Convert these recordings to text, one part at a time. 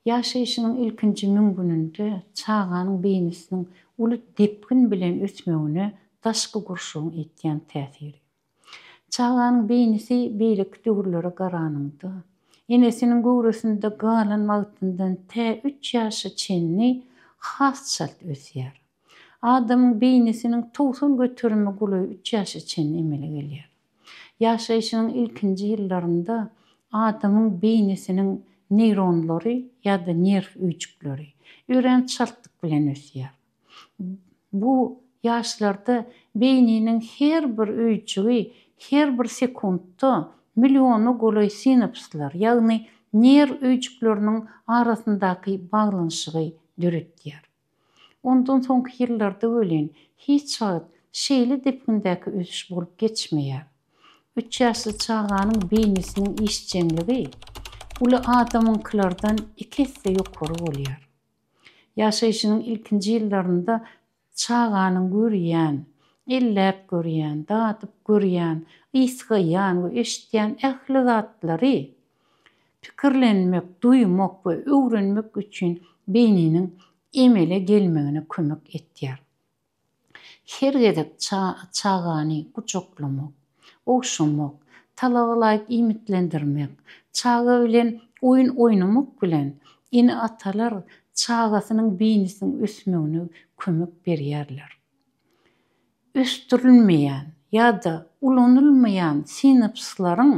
Ýaşaýşynyň ilkinji müň gününde çaganyň beýnisiniň uly depgin bilen ösmegine daşky gurşawyň etýän täsiri. Çaganyň beýnisi beýleki döwürlere garanyňda, enesiniň göwresinde galan wagtyndan tä üç ýaşa çenli has çalt ösýär. Adamyň beýnisiniň togsan göterimi golaý üç ýaşa çenli emele gelýär. Ýaşaýşynyň ilkinji ýyllarynda adamyň beýnisiniň neýronlary ýa-da nerw öýjükleri örän çaltlyk bilen ösýär. Bu ýaşlarda beýniniň her bir öýjügi her bir sekuntda milliona golaý sinapslar, ýagny nerw öýjükleriniň arasyndaky baglanyşygy döretýär. Ondan soňky ýyllarda welin hiç wagt şeýle depgindäki ösüş bolup geçmeýär. Üç ýaşly çaganyň beýnisiniň işjeňligi uly adamyňkylardan iki esse ýokary bolýar. Ýaşaýşynyň ilkinji ýyllarynda çaganyň görýän, elläp görýän, dadyp görýän, ysgaýan we eşitýän ähli zatlary Pikirlenmek, duýmak we öwrenmek üçin beýniniň emele gelmegine kömek etýär. Her gezek çagany gujaklamak, ogşamak, talabalaýyk iýmitlendirmek, çaga bilen oýun oýnamak bilen, ene-atalar çagasynyň beýnisiniň ösmegine kömek berýärler. Ösdürilmeýän ýa-da ulanylmaýan sinapslaryň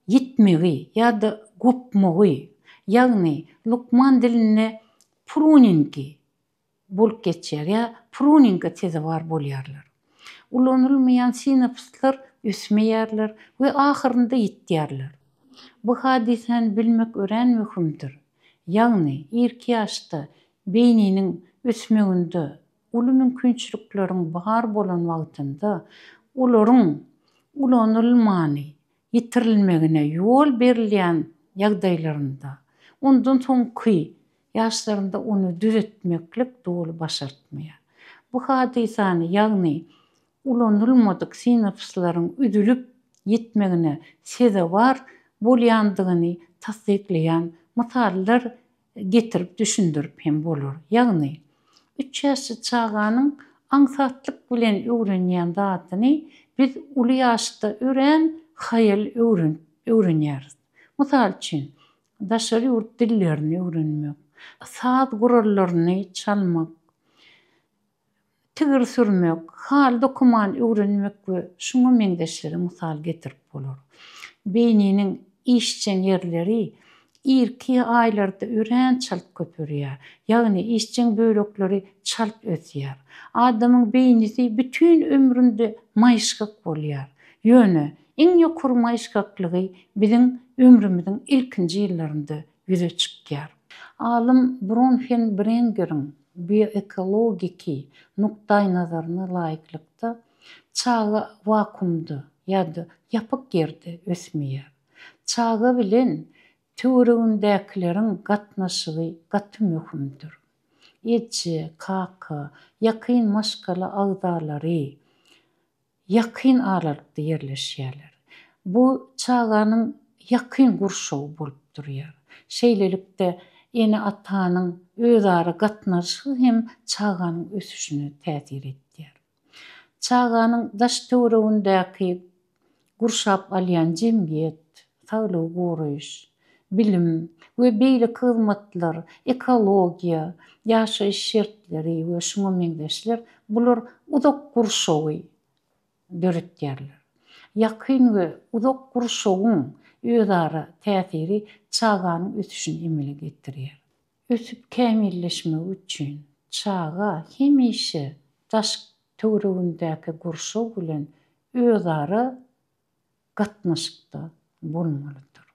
ýitmegi ýa-da gopmagy, ýagny lukman dilinde pruningi, bolup geçýär ýa pruninga sezewar bolýarlar. Ulanylmaýan sinapslar ösmeýärler we ahyrynda ýitýärler. Bu hadysäni bilmek örän möhümdir, ýagny irki ýaşda beýniniň ösmeginde Uly mümkinçilikleriň bar bolan wagtynda olaryň ulanylmany ýitirilmegine ýol berilýän ýagdaýlarynda, ondan soňky ýaşlarynda ony düzetmeklik doly başartmaýar. Bu hadysany, ýagny ulanylmadyk sinapslaryň üzülip ýitmegine sezewar bolýandygyny tassyklaýan mysallar getirip düşündirip hem bolar. Ýagny, üç ýaşly çaganyň aňsatlyk bilen öwrenýän zadyny biz uly ýaşda örän haýal öwrenip öwrenýäris. Mysal üçin, daşary ýurt dillerini öwrenmek, saz gurallaryny çalmak, tigir sürmek, hal dokuman öwrenmek we şuňa meňzeşleri mysal getirip bolar. Beýniniň işjeň ýerleri irki aýlarda örän çalt köperýär, ýagny işjeň bölekleri çalt ösýär. Adamyň beýnisi bütin ömründe maýyşgak bolýar. Ýöne, iň ýokary maýyşgaklygy biziň ömrümiziň ilkinji ýyllarynda ýüze çykýar. Alym Bronhen Brengeriň Bioekologiki nukdaýnazaryna laýyklykda, çaga wakuumda ýa-da ýapyk ýerde ösmeýär. Çaga bilen töweregindäkileriň gatnaşygy gaty möhümdir. Eje, kaka, ýakyn maşgala agzalary ýakyn aralykda ýerleşýärler. Bu çaganyň ýakyn gurşawy bolup durýar. Şeýlelikde, ene-atanyň özara gatnaşygy hem çaganyň ösüşine täsir etýär. Çaganyň daş-töweregindäki gurşap alýan jemgyýet, saglygy goraýyş, bilim we beýleki hyzmatlar, ekologiýa, ýaşaýyş şertleri we şuňa meňzeşler, bular uzak gurşawy döretýärler. Ýakyn we uzak gurşawyň özara täsiri çaganyň ösüşini emele getirýär. Ösüp kämilleşmegi üçin çaga hemişe daş-töweregindäki gurşaw bilen özara gatnaşykda bolmalydyr.